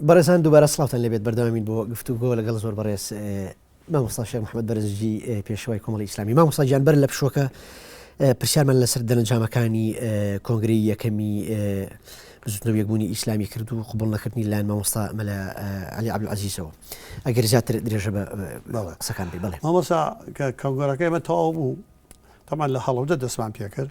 بەڕێزان دووبارە سڵاوتان لێبێت بەردەوامین بۆ گفتوگۆ لەگەڵ زۆر بەڕێز مامۆستا شێخ محمد بەرزجی پێشەوەی کۆمەڵی ئیسلامی مامۆستا گیان بەر لە پشوەکە پرسیارمان لەسەر دەنجامەکانی کۆنگری یەکەمی بزوتنەوە یەکبوونی ئیسلامی کرد و قوبڵ نەکردنی لایەن مامۆستا مەلا علی عبدعزیزەوە ئەگەر زیاتر درێژە بە قسەکان بێ بڵێ مامۆسا کە کەنگۆرەکەی مە تەواو بوو تەمان لە هەڵەوجە دەستمان پێکرد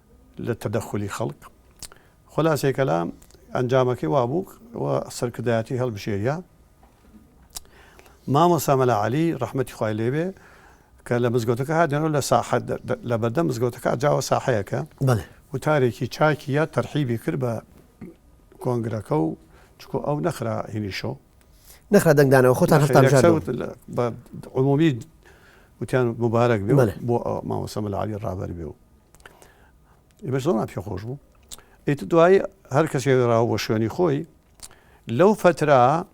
لە تەدەخولی خەڵک خولاسەی کەلام ئەنجامەکەی وابوو و سەرکردایەتی هەڵبژێریا مامۆسا مەلا عەلی ڕەحمەتی خوای لێبێ کە لە مزگەوتەکە هاتێنەوە لە ساحە لە بەردەم مزگەوتەکە جاوە ساحەیەکە وتارێکی چاکی یا تەرحیبی کرد بە کۆنگرەکە و چکۆ ئەو نەخرا هینیشەوە نەخرا دەنگدانەوە خۆتان هەفتان عمومی وتیان مبارەک بێ بۆ ماوەسە مەلاوی ڕابەر بێ و ئێمە زۆر پێ خۆش بوو ئیت دوای هەر کەسێ راوە بۆ شوێنی خۆی لەو فترا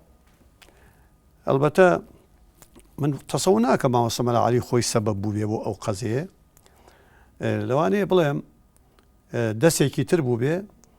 ئەلبەتە من تەسەو ناکە ماوەسە مەلاعالی خۆی سەبەب بووێ بۆ ئەو قەزەیە لەوانەیە بڵێم دەستێکی تر بوو بێ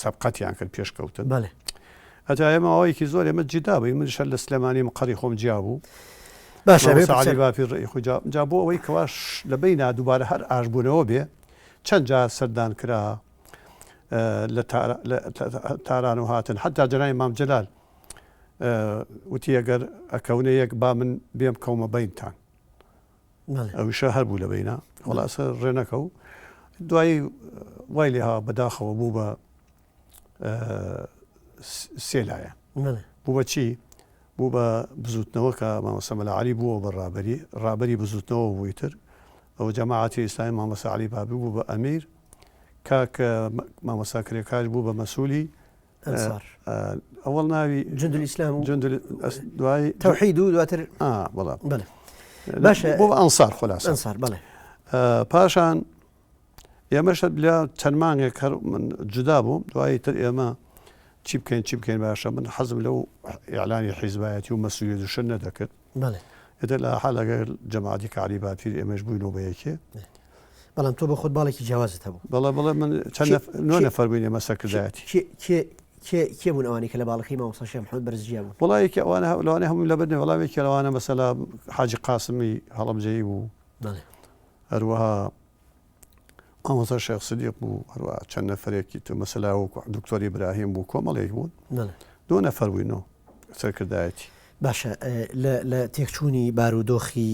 سەبقەتیان کرد پێش کەوتن بەێ ئەجا ئێمە ئەوەیەکی زۆر ئێمە جیدا بووی من شەر لە سلێمانی مقڕی خۆم جیا بوو باشە باپی ڕێی خوجا جا بۆ ئەوەی کەواش لە بینا دووبارە هەر ئاشبوونەوە بێ چەند جار سەردان کرا لە تاران و هاتن حتا جەنای مام جلال وتی ئەگەر ئەکەونە یەک با من بێم کەومە بینتان ئەویشە هەر بوو لە بەینا خولاسە ڕێ نەکەو دوایی وای لێ هاوا بەداخەوە بوو بە سێ لایە بوو بە چی؟ بوو بە بزوتنەوە کە مامەسە مەلاعلی بووە بە ڕابەری ڕابەری بزوتنەوە بووی تر ئەو جەماعاتی ئیسلامی مامەسە علی بابی بوو بە ئەمیر کاکە مامەسا کرێکاش بوو بە مەسوولی ئەنسار ئەوەڵ ناوی جندل ئیسلام و جندل ئەس- دوای تەوحید و دواتر ئا بەڵام بەڵێ باشە. بۆ ئەنسار خلاصە ئەنسار بەڵێ آه، پاشان ئێمەش لە چەند مانگێک هەر من جودا بووم دوایی تر ئێمە چی بکەین چی بکەین باشە من حەزم لەو ئیعلانی حیزبایەتی و مەسولیت و شت نەدەکرد بەڵێ. ئیتر لە هەرحال ئەگەر جەماعەتی کەعلی باپیر ئێمەش بووینەوە بە یەکێ. بەڵام تۆ بۆ خۆت باڵێکی جیاوازت هەبوو. بەڵێ بەڵێ من چەند نەف نۆ نەفەر بووین ئێمە سەرکردایەتی. کێ کێ کێ کێ بوون ئەوانەی کە لە باڵەکەی مامۆستا شێخ محەمەد بەرز جیا بوون؟ وەڵا یەکێ ئەوانە هە لەوانەیە هەموویم لەبەر نەبێ بەڵام یەکێ لەوانە مەسەلا حاجی قاسمی هەڵەبجەیی بوو. بەڵێ. هەروەها مامۆستا شێخ سدیق بوو هەروە چەند نەفرێکی تو مەسەلا و دکتۆری براهیم بوو کۆمەڵێک بوون دو نەفەر بووین و سەرکردایەتی باشە لە تێکچوونی بارودۆخی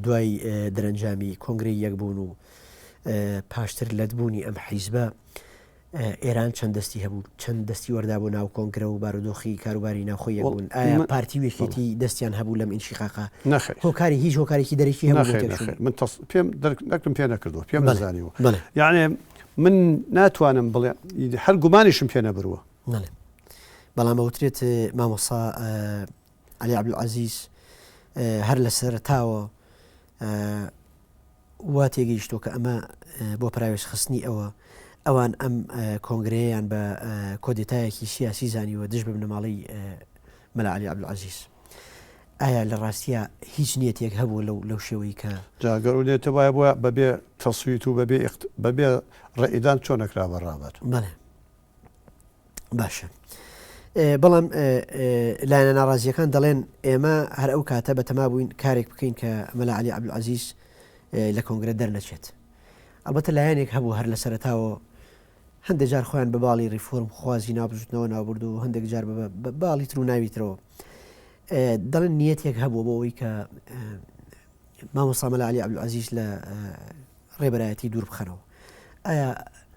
دوای دەرەنجامی کۆنگری یەکبوون و پاشتر لەتبوونی ئەم حیزبە ئێران چەند دەستی هەبوو چەند دەستی وەردا بۆ ناو کۆنگرە و بارودۆخی کاروباری ناوخۆی یەکبوون ئایا پارتی ویەکێتی دەستیان هەبوو لەم ئینشیقاقە نەخێر هۆکاری هیچ هۆکارێکی دەرەکی هەبوو نەخێر نەخێر من تەس پێم دەرک نەکردم پێ نەکردووە پێم بەڵێ نەزانیوە بەڵێ یانێ من ناتوانم بڵێ ی هەر گومانیشم پێ نەبرووە بەڵێ بەڵام ئەوترێت مامۆسا عەلی عەبدولعەزیز هەر لە سەرەتاوە وا تێگەیشتووە کە ئەمە بۆ پراوێزخستنی ئەوە ئەوان ئەم کۆنگرەیەیان بە کۆدێتایەکی سیاسی زانیوە دژ ببنەماڵی مەلا علی عبدعزیز ئایا لە ڕاستە هیچ نیەتێک هەبوو لەو لەو شێوەی کە جاگەر و لێتە وایە بۆ بەبێ تەسویت و بەبێ بەبێ ڕێئدان چۆن نەکرا بە ڕابەر بەێ باشە بەڵام لایەنە ناڕازیەکان دەڵێن ئێمە هەر ئەو کاتە بە تەما بووین کارێک بکەین کە مەلا علی عبدعزیز لە کۆنگرە دەرنەچێت ئەڵبەتە لایەنێک هەبوو هەر لە سەرتاوە هەندێک جار خۆیان بە باڵی ریفۆرم خوازی نابژوتنەوە ناوبرد و هەندێک جار بە باڵی تر و ناویترەوە دەڵێن نیەتێک هەبوو بۆ ئەوی کە مامۆسامەلا علی عبدعزیز لە ڕێبەرایەتی دوور بخەنەوە ئایا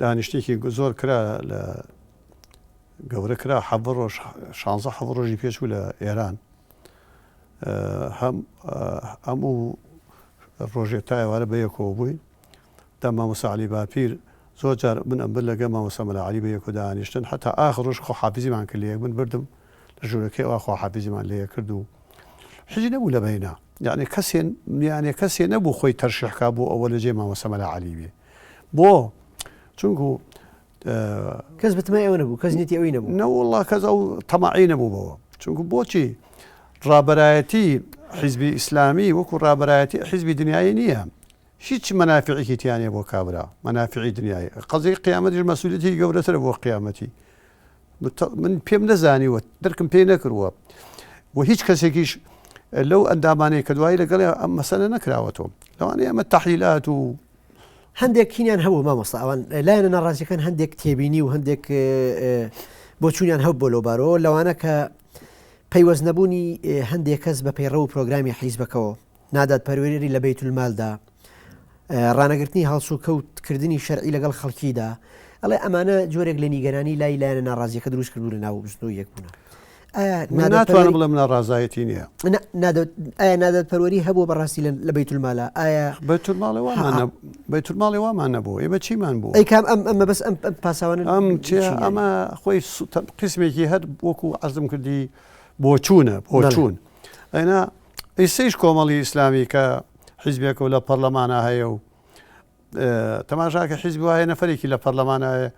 دانیشتێکی زۆر کرا لە گەورە کرا حە ڕۆژ شانزە حە ڕۆژی پێشوو لە ئێران هەموو ڕۆژێ تایوارە بە یەکەوە بووین دە مامۆساعلی باپیر زۆر جار من ئەم بر لەگە مامۆسەمەلا علی بە یەکۆدا ئانیشتن حتا ئاخ ڕۆژ خۆ حافزیمان کرد لە یەک من بردم لە ژورەکەی ئەوا خواحافیزیمان لێ کرد و حیزی نەبوو لە بەینا یانێ کەسێ یانێ کەسێ نەبوو خۆی تەرشیح کا بۆ ئەوە لە جێ مامۆستا مەلا عەلی بێ بۆ چونکو کەس بتمای ئەوە نەبوو کەس نیەتی ئەوی نەبوو نەوەڵا کەس ئەو تەماعی نەبوو بەوە چونکو بۆچی ڕابەرایەتی حیزبی ئیسلامی وەکو ڕابەرایەتی حیزبی دنیای نییە هیچ مەنافعێکی تیانە بۆ کابرا مەنافعی دنیای قەزی قیامەتیش مەسوولەتی گەورەتر بۆ قیامەتی من پێم نەزانیوە درکم پێی نەکردووە و هیچ کەسێکیش لەو ئەندامانەی کە دوایی لەگەڵ ئەم مەسەلە نەکراوەتەوە لەوانەیە ئەمە تەحیلات و هەندێک کینیان هەبوو مامۆستا ئەوان لایەنە ناڕازیەکان هەندێک تێبینی و هەندێک بۆچوونیان هەب بۆ لەوبارەوە لەوانە کە پەیوەست نەبوونی هەندێک کەس بە پەیڕە و پرۆگرامی حیزبەکەەوە نادادپەروەری لە بەیت المالدا، ڕانەگرتنی هەڵسوکەوت کردنی شەرعی لەگەڵ خەڵکیدا، ئەڵێ ئەمانە جۆرێک لە نیگەرانی لای لایەنە ناڕازیەکە دروست کردوو لە ناو بزنەوە یەک بوونە. ناتوانم بڵێم ناڕازایەتی نییە ئایا نادەت پەروەری هەبوو بەڕاستی لە بەیت المالە ئایا بەیت الماڵی وامان نەبوو ئێمە چیمان بوو ئەیکام ئەم ئەمە بەس ئەم پاساوان ئەم ئەمە خۆی قسمێکی هەر وەکو عزم کردی بۆچوونە بۆچوون ئەنا ئیسەیش کۆمەڵی ئیسلامی کە حیزبێکە و لە پەرلەمانا هەیە و تەماشاکە حیزب وایە نەفرێکی لە پەرلەمانایە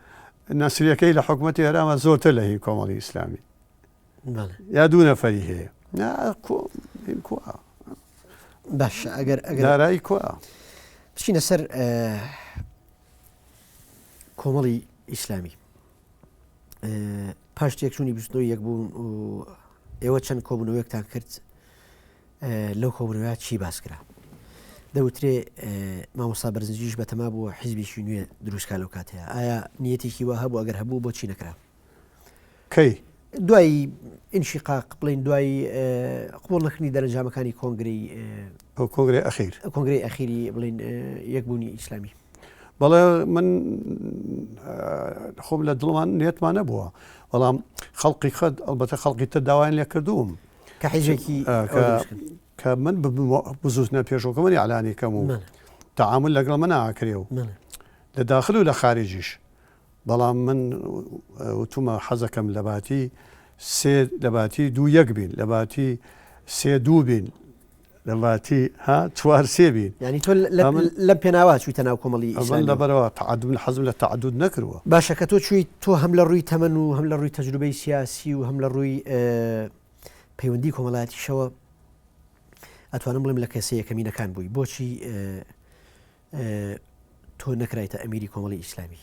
نەسریەکەی لە حکوومەتی هەرامە زۆرتر لە هین کۆمەڵی ئیسلامی یا دوو نەفری هەیە باش ئەگەر ئەگەرارایی کو بچینە سەر کۆمەڵی ئیسلامی پاش تێکچوونی بستنەوە یەک بوون و ئێوە چەند کۆبوونەوەیەکتان کرد لەو کۆبوونەوە چی باس کرا دەوترێ مامۆسا بەرزنجیش بەتەما بووە حیزبیشی نوێ دروستکە لەو کاتەیە ئایا نیەتێکی وە هەبوو ئەگەر هەبوو بۆچی نەکرا کەی دوایی ئینشی قاق بڵین دوایی قوڵ نەخنی دەرەنجامەکانی کۆنگری ئەو کۆنگرەی ئەخیر. کۆنگرەی ئەخیری بڵێن یەکبوونی ئیسلامی. بەڵێ من خۆم لە دڵمان نێتمان نەبووە بەڵام خەڵقی خەت ئەڵبەتە خەڵقی تر داوایان لێ کردووم کە حیزێکی کە من بزوتنە پێشۆکە منی علانی کەم و تعامل لەگەڵ من ناکرێ و لە داخل و لە خارجیش بەڵام من وتومە حەزەکەم لە باتی سێ لە باتی دوو یەک بین لە باتی سێ دوو بین لە لاتی ها چوار سێ بین یعنی تۆ لەم پێناوا چوویتە ناو کۆمەڵی ئەمن لەبەرەوە تعدون حەزم لە تعدود نەکردووە باشە کە تۆ چوویت تۆ هەم لە ڕووی تەمەن و هەم لە ڕووی تەجروبەی سیاسی و هەم لە ڕووی پەیوەندی کۆمەڵاتیشەوە ئەتوانم بڵێم لە کەسە یەکەمینەکان بووی بۆچی تۆ نەکرایتە ئەمیری کۆمەڵی ئیسلامی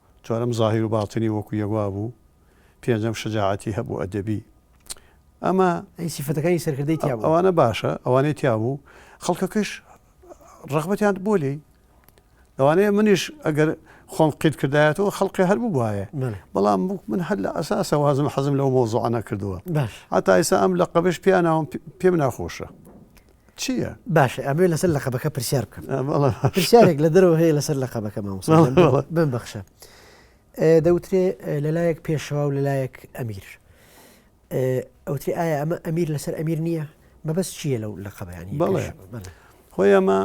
چوارەم زاهیر و باتنی وەکو یەک وابوو پێنجەم شەجاعەتی هەبوو ئەدەبی ئەمە ئەی سیفەتەکانی سەرکردەی تیا بوو؟ ئەوانە باشە ئەوانەی تیا بوو خەڵکەکەش ڕەغبەتیان بۆ لێی لەوانەیە منیش ئەگەر خۆم قیت کردایەتەوە خەڵقی هەر ببوایە بەڵێ بەڵام بوو من هەر لە ئەساسەوە هەزم حەزم لەو مۆزوعە نەکردووە باش هەتا ئێستا ئەم لەقەبەش پێیان ناوم پێم ناخۆشە چییە؟ باشە ئەمێ لەسەر لە قەبەکە پرسیار بکەم پرسیارێک لە دەرەوە هەیە لەسەر لە قەبەکە ماوە بم بەخشە دەوترێ لەلایەک پێشەوە و لەلایەک ئەمیر ئەوتری ئایا ئەمە ئەمیر لەسەر ئەمیر نییە مەبەست چییە لەو لە قەبیانی بڵێ خۆی ئەمە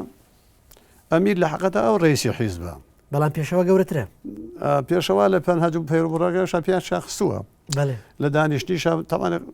ئەمیر لە حقەتە ئەو ڕێسی حیزبە بەڵام پێشەوە گەورەترە پێشەوە لە پەنهاج و پەیربڕەکە شەپیان شاخستووە لە دانیشتنی شە تەوانێت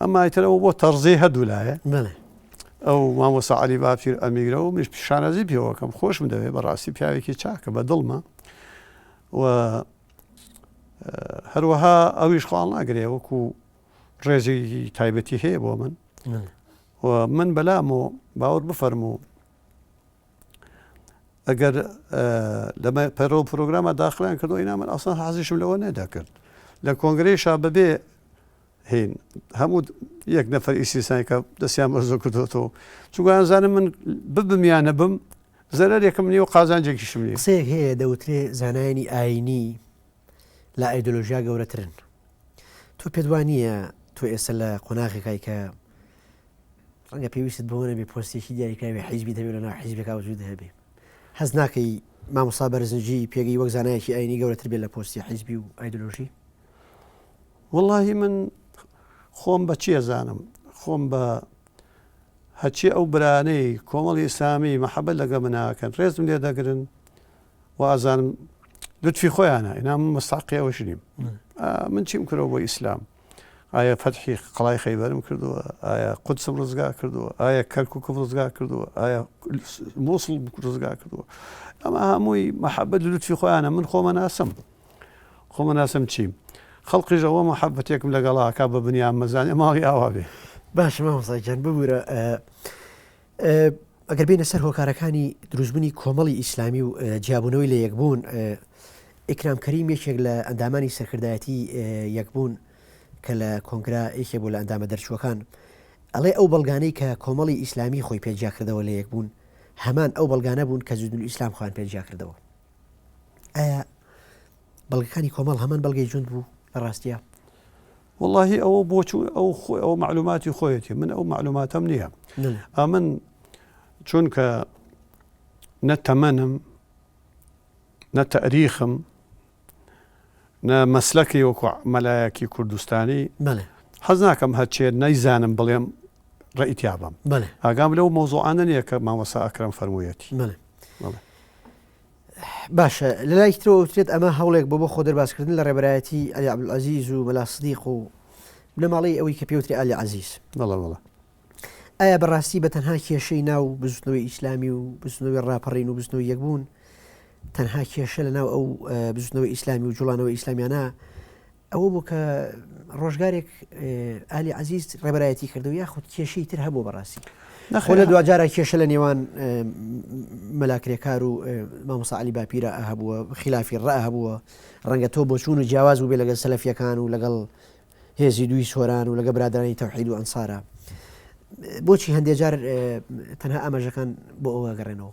ئەمە ئایترەوە بۆ تەڕزی هەردوو لایە ئەو مامۆسا علی باپیر ئەمیگرە و مش پیشانەزی پێوەکەم خۆشم دەوێت بەڕاستی پیاوێکی چاکە بە دڵمە و هەروەها ئەویش خواڵ ناگرێ وەکو ڕێزی تایبەتی هەیە بۆ من و من بەلام و باوەڕ بفەرموو ئەگەر لەمە پەرۆ پرۆگرامە داخلیان کردو ئینا من ئاسان حازیشم لەوە نەدەکرد لە کۆنگری شا ببێ هین هەموو یەک نەفەر ئیسیسانی کە دەستیان بەرزۆ کردوەوە چوگویان زانم من ببم یان نەبم زەرەرێکم نیە و قازانجێکیشم نیە قسەیەک هەیە دەوترێ زانایانی ئاینی لە ئایدۆلۆژیا گەورەترن تۆ پێدوانە تۆ ئێستا لە قۆناغێکای کە ڕەنگە پێویستت بەوە نەبێ پۆستێکی دیاریکراوی حیزبیت هەبێ و لەناو حیزبێکا وجودت هەبێ. هەست ناکەی مامۆستا بەرزنجی پێگەی وەک زانایەکی ئاینی گەورەتر بێت لە پۆستی حیزبی و ئایدۆلۆژی؟ وەڵاهی من خۆم بە چی ئەزانم، خۆم بە هەرچی ئەو برانەی کۆمەڵی ئیسلامی مەحەبەت لەگەڵ من ناکەن ڕێزم لێ دەگرن و ئازانم لوتفی خۆیانە ئینا من مستحقی ئەوەش نیم. من چیم کردەوە بۆ ئیسلام؟ ئایا فەتحی قەڵای خەیبەرم کردووە؟ ئایا قودسم ڕزگا کردووە؟ ئایا کەرکووکم ڕزگا کردووە؟ ئایا مووسڵ ڕزگا کردووە؟ ئەمە هەمووی مەحەبەت لوتفی خۆیانە من خۆمە ناسم خۆمە ناسم چیم؟ خەڵقیش ئەوە مەحەبەتێکم لەگەڵاکە بە بنیامەزانێ ماڵی ئاوا بێ. باش مامۆستا گیان ببورە ئەگەر بینە سەر هۆکارەکانی دروستبوونی کۆمەڵی ئیسلامی و جیابوونەوەی لە یەکبوون ئیکرام کەریم یەکێک لە ئەندامانی سەرکردایەتی یەکبوون کە لە کۆنگرا یەکێ بۆ لە ئەندامە دەرچووەکان ئەڵێ ئەو بەڵگانەی کە کۆمەڵی ئیسلامی خۆی پێجیا کردەوە لە یەکبوون هەمان ئەو بەڵگانە بوون کە جدول ئیسلام خوان پێجیا کردەوە ئایا بەڵگەکانی کۆمەڵ هەمان بەڵگەی جوند بوو لە ڕاستە وەڵاهی ئەوە بۆ چوو ئەو خۆی ئەو معلوماتی خۆیەتی من ئەو معلوماتەم نییە ئەمن چونکە نە تەمەنم نە تەریخم نە مەسلەکەی وەکو مەلایەکی کوردستانی حەز ناکەم هەچێ نەیزانم بڵێم ڕئیتیابم ئاگام لەو مۆزوعانە نیە کە مامەسا ئەکرم فەرموویەتی باشە لە لایەکی ترەوە ئەوترێت ئەمە هەوڵێک بۆ بۆ خۆ دەربازکردن لە ڕێبەرایەتی ئەلی عەبدولعەزیز و مەلا سدیق و بنەماڵەی ئەوەی کە پێوتری ئالی عەزیز بەڵێ بەڵێ ئایا بەڕاستی بە تەنها کێشەی ناو بزوتنەوەی ئیسلامی و بزنەوەی ڕاپەڕین و بزنەوە یەکبوون تەنها کێشە لە ناو ئەو بزنەوە ئیسلامی و جوڵانەوە ئیسلامیانە ئەوە بوو کە ڕۆژگارێک ئالی عزیز ڕێبەرایەتی کردو یاخود کێشی تر هەبوو بەڕاستی نەخۆ لە دواجارە کێشە لە نێوان مەلاکرێکار و مامۆساعلی باپیرە هەبووە خلافی ڕە هەبووە ڕەنگە تۆ بۆچوون و جیاواز بوو بێ لەگەل سەلفیەکان و لەگەڵ هێزی دووی سۆران و لەگە برادرانی تەوحید و ئەنسارە بۆچی هەندێجار تەنها ئاماژەکان بۆ ئەوە گەڕێنەوە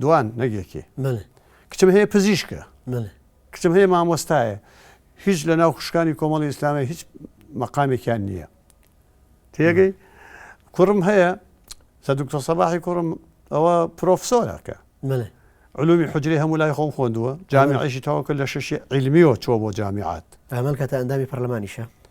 دوان نەگێکێ بەلێ. کچم هەیە پزیشکە. بەلێ. کچم هەیە مامۆستایە. هیچ لە ناو خوشکانی کۆمەڵی ئیسلامی هیچ مەقامێکیان نییە. تێگەی؟ کوڕم هەیە سە دکتۆر سەباحی کوڕم ئەوە پرۆفسۆرە کە. بەلێ. علومی حجری هەموو لای خۆم خۆندووە جامیعیشی تەواو کرد لە شەشی علمیەوە چووە بۆ جامیعات. ئەمن کاتە ئەندامی پەرلەمانیشە.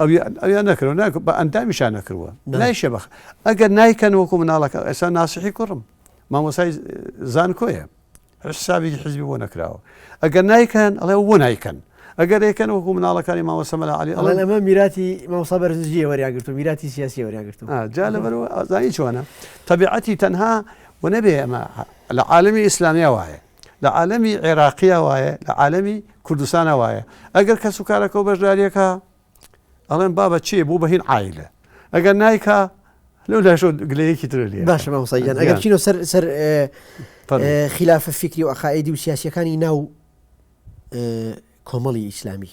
ئەویان ئەویان نەکردوە نا بە ئەندامیشان نەکردوە نایشە بەخ ئەگەر نایکەن وەکو مناڵەکە ئێستا ناسیحی کوڕم مامۆسای زانکۆیە حسابی حزبی بۆ نەکراوە ئەگەر نایکەن ئەڵێ بۆ نایکەن ئەگەر ئەیکەن وەکو مناڵەکانی ماوەسەمەلا علی ئەڵێ ئەمە میراتی ماوسا بەرزجی وەریاگرتو میراتی سیاسی وەریاگرتو جا لەبەر ئازایی چۆنە تەبیعەتی تەنها و نەبێ ئەمە لە عاالمی ئیسلامیا وایە لە عالەمی عێراقیا وایە لە عالەمی کوردستانا وایە ئەگەر کەس و کارەکەو بەشداریەکا ئەڵێن بابە چێ بوو بە هین عیلە ئەگەر نایکا لەو لاشۆ گلەیەکی ترە لێ باشە مامۆساییان ئەگەر چینۆ سەر سەر خلافە فکری و عقائدی و سیاسەکانی ناو کۆمەڵی ئیسلامی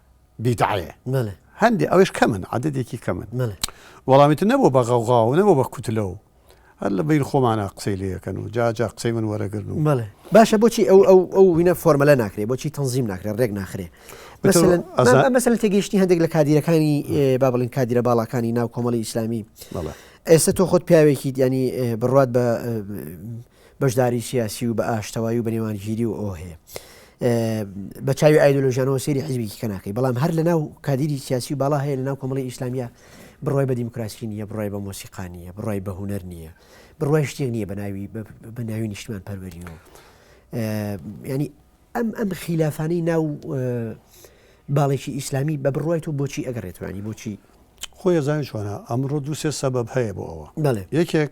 بیدعەیە بەلێ هەندێ ئەوش کەمن عددێکی کەمن بەلێ وەڵامیتر نەبوو بە غەوغاو نەبوو بە کوتلەو هەر لە بیر خۆمانە قسەی لەکەن و جا جا قسەی من وەرەگرن و بەڵێ باشە بۆچی ئەو ئەو ئەو وینە فۆرمەلە ناکرێ بۆچی تەنزیم ناکرێ ڕێک ناخرێ مەسەل تێگەیشتنی هەندێک لە کادیرەکانی با بڵین کادیرە باڵاکانی ناو کۆمەڵی ئیسلامی ئێستا تۆ خۆت پیاوێکی دیانی بڕات بە بەشداری سیاسی و بە ئاشتەوایی و بە نێوانگیری و ئۆه بە چاوی ئایدۆلۆژیانەوە سەیری حیزبێکی کە ناکەی بەڵام هەر لە ناو کادیری سیاسی و باڵا هەیە لە ناو کۆمەڵی ئیسلامیە بڕای بە دیموکراسی نیە بڕای بە مۆسیقا نیە بڕای بە هوەر نیە بڕای شتێک نییە بە ناوی بە ناوی نیشتمان پەروەریەوە ینی ئەم ئەم خیلافانی ناو باڵێکی ئیسلامی بە بڕای تۆ بۆچی ئەگەڕێتوانی بۆچی خۆی زانانی چۆنە ئەمڕۆ دووسێ سەبەب هەیە بۆ ئەوە یەکێک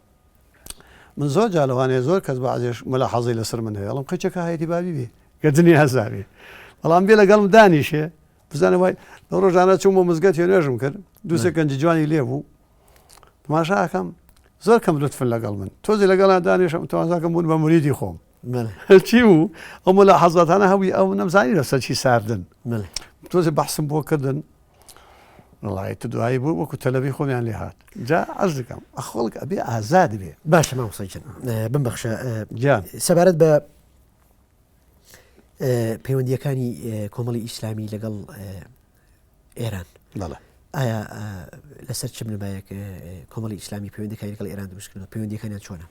من زۆر جار لەوانەیە زۆر کەس بەعزێش ملاحەزەی لەسەر من هەیە ئەڵم قەچەکە هایەتی بابی بێ گە دنیا زاوێ بەڵام بێ لەگەڵم دانیشێ بزانە وای لەو ڕۆژانە چوم بۆ مزگەت هێ نوێژم کرد دووسێ گەنج جوانی لێ بوو تماشاکەم زۆر کەم لطفن لەگەڵ من تۆزی لەگەڵا دانیشم تازاکەم بوون بە مریدی خۆم بەلێ چی بوو ئەو ملاحەزاتانە هەبووی ئەو نەمزانی لەسەر چی ساردن تۆزی بەحسم بۆ کردن وڵی تو دوایی بوو وەکو تەلەبی خۆمیان لێ هاات جا ئەز دەکەم ئەخۆڵک ئەبێ ئازاد بێ باشە ماوسەجن بمبخشە گیان سەبارەت بە پەیوەندیەکانی کۆمەڵی ئیسلامی لەگەڵ ئێران بەڵە ئایا لەسەر چ بنەبایەک کۆمەڵی ئیسلامی پەیوەندەکانی لەگەڵ ئێران دروستکردن پەیوەندیەکانیان چۆنە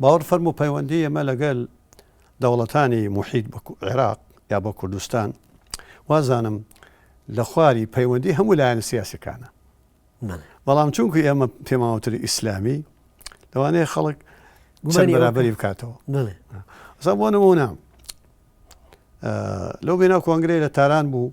باوەڕ فەرموو پەیوەندی ئێمە لەگەل دەوڵەتانی موحیت بە عێراق یا بە کوردستان وازانم لە خواری پەیوەندی هەموو لایەنە سیاسەکانە بەڵام چونکو ئێمە پێماوەتری ئیسلامی لەوانەیە خەڵک گومانی بەرابری بکاتەوە زە بۆ نمونە لەو بێنا کۆنگرەی لە تاران بوو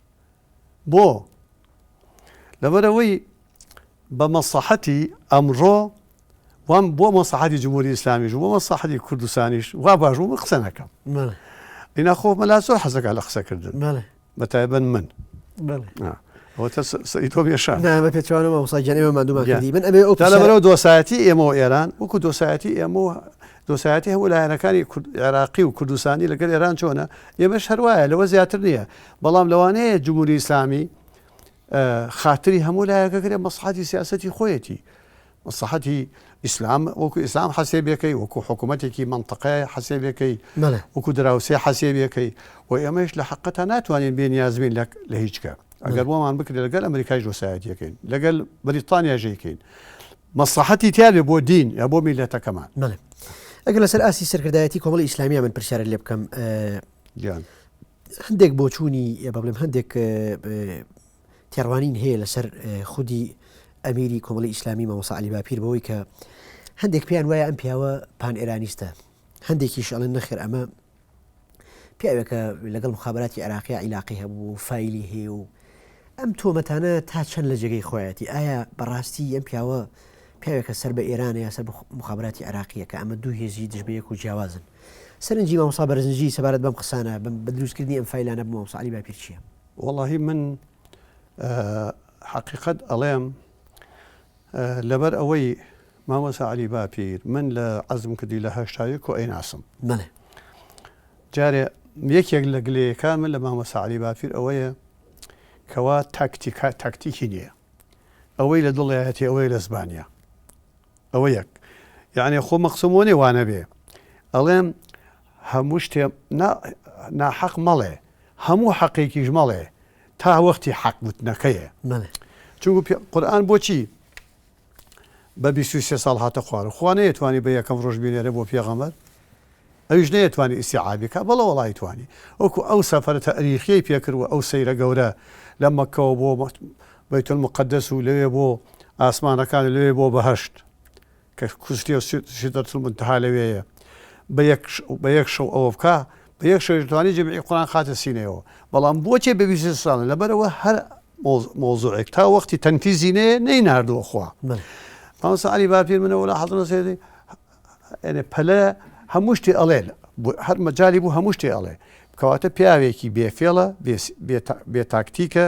بۆ؟ لەبەرئەوەی بە مەسڵەحەتی ئەمڕۆ وام بۆ مەسڵەحەتی جمهوری ئیسلامیش و بۆ مەسڵەحەتی کوردستانیش وا باش بوو من قسە نەکەم. بەڵێ. ئینا خۆ مەلا زۆر حەز دەکات لە قسەکردن. بەڵێ. بە تایبەت من. بەڵێ. ئا. ئەوەتا سە سەری تۆم ئێشاند. نا بە پێچەوانەوە مامۆستا گیان ئێمە ماندوومان کردی. من ئەبێ ئەو پرسە. تا لەبەرئەوە دۆسایەتی ئێمە و ئێران وەکوو دۆسایەتی ئێمە و دۆسایەتی هەموو لایەنەکانی کورد عێراقی و کوردستانی لەگەل ئێران چۆنە؟ ئێمەش هەر وایە لەوە زیاتر نییە بەڵام لەوانەیە جمهوری ئیسلامی خاتری هەموو لایەکە کرێ مەسحاتی سیاستی خۆیەتی مەسەحەتی ئیسلام وەکو ئیسلام حەسێبیەکەی وەکو حکوومەتێکی منطقەیە حەسێبیەکەی وەکو دراوسێ حەسێبیەکەی و ئێمەش لە حقەتا ناتوانین بێ نیازبین لە هیچکە ئەگەر بۆمان بکرێت لەگەل ئەمریکای دۆسایەتیەکەین لەگەل بریتانیا ژێکەین مەسڵەحەتی تیا بێ بۆ دین یا بۆ میلەتەکەمان. بەڵێ ئەگەر لەسەر ئاستی سەرکردایەتی کۆمەڵی ئیسلامیە من پرسیارە لێ بکەم گیان هەندێک بۆچوونی بە بڵێم هەندێک تێڕوانین هەیە لەسەر خودی ئەمیری کۆمەڵی ئیسلامی مەمەسەعلی باپیر بەوەی کە هەندێک پێیان وایە ئەم پیاوە پان ئێرانیستە هەندێکیش ئەڵێن نەخێر ئەمە پیاوێکە لەگەڵ مخابراتی عێراقی عیلاقی هەبوو فیلی هەیە و ئەم تۆمەتانە تا چەند لە جێگەی خۆیەتی ئایا بەڕاستی ئەم پیاوە پیاوێکە سەر بە ئێرانە یا سەر مخابراتی عراقیە کە ئەمە دوو هێزی دژبەیەک و جیاوازن سەرنجی مامۆسا بەرزنجی سەبارەت بەم قسانە بم بە دروستکردنی ئەم فیلانە بۆ مامۆساعلی باپیرچیە وەڵی من حقیقت ئەڵێم لەبەر ئەوەی مامۆسا عەلی باپیر من لە عەزم کردی لە هەشتا یەک و ئەیناسم. بەلێ. جارێ یەکێک لە گلەیەکان من لە مامۆسا عەلی باپیر ئەوەیە کەوا تاکتیکا تاکتیکی نییە. ئەوەی لە دڵیایەتی ئەوەی لە زبانیا. ئەوە یەک. یعنی خۆ مەقسم وۆ نێ وانە بێ. ئەڵێم هەموو شتێ نا ناحەق مەڵێ. هەموو حەقێکیش مەڵێ تا وەختی حەق وتنەکەیە. بەلێ. چونکو پێ قورئان بۆچی بە بیست و سێ ساڵ هاتە خوارو خوا نەیەتوانی بە یەکەم ڕۆژ بینێرێ بۆ پێغەمبەر ئەویش نەیەتوانی ئیستیعابی کا بەڵێ وەڵایی توانی وەکو ئەو سەفەرە تەئریخیەی پێ کرد وە ئەو سەیرە گەورە لە مەککەوە بۆ بەیت المقدس و لەوێ بۆ ئاسمانەکان و لەوێ بۆ بەهەشت کە کوشتێ و سیدرەتولمونتەها لەوێیە بە یەک شەو ئەوە بکا بە یەک شەویش دەتوانی جەمیعی قورئان خاتە سینەیەوە بەڵام بۆچێ بە بیست بیست ساڵە لەبەرئەوە هەر مەوزوعێک تا وەختی تەنفیزی نەیە نەی ناردووە خوا مامۆستا عەلی باپیر منە وەلا حەزم نەسێتی یعنی پەلە هەموو شتێ ئەڵێ هەر مەجالی بوو هەموو شتێ ئەڵێ کەواتە پیاوێکی بێفێڵە بێتاکتیکە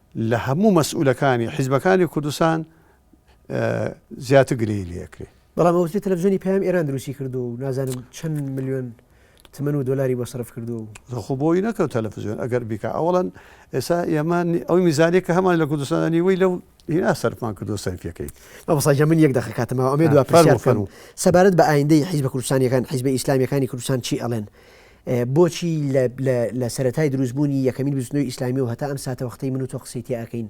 لە هەموو مەسئولەکانی حیزبەکانی کوردستان زیاتر گلەیی لێ ئەکرێ. بەڵام ئەوترێ تەلەفزیۆنی پەیام ئێران دروستی کردووە و نازانم چەند ملیۆن تمەن و دۆلاری بۆ سەرف کردووە و. خۆ بۆی نەکەوت تەلەفزیۆن ئەگەر بیکا ئەوەڵەن ئێستا ئێمە ئەوی میزانەیە کە هەمان لە کوردستاندا نیوەی لەو هینا سەرفمان کردو سەرفیەکەی مامۆستا من یەک دەقە کاتمەوە ئەمێ دوا پرسیار بکەم سەبارەت بە ئایندەی حیزبە کوردستانیەکان حیزبە ئیسلامیەکانی کوردستان چی ئەڵێن بۆچی لە لە سەرەتای دروست بوونی یەکەمین بزوتنەوەی ئیسلامی و هەتا ئەم ساتەوەختەی من و تۆ قسەی تێ ئەکەین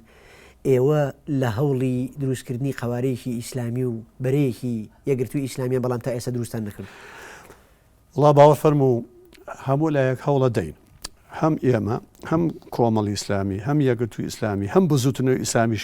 ئێوە لە هەوڵی دروست کردنی قەوارەیەکی ئیسلامی و بەرەیەکی یەکگرتووی ئیسلامیان بەڵام تا ئێستا دروستتان نەکردووە؟ وڵا باوەڕ فەرموو هەموو لایەک هەوڵە دەین هەم ئێمە هەم کۆمەڵی ئیسلامی هەم یەکگرتووی ئیسلامی هەم بزوتنەوەی ئیسلامیش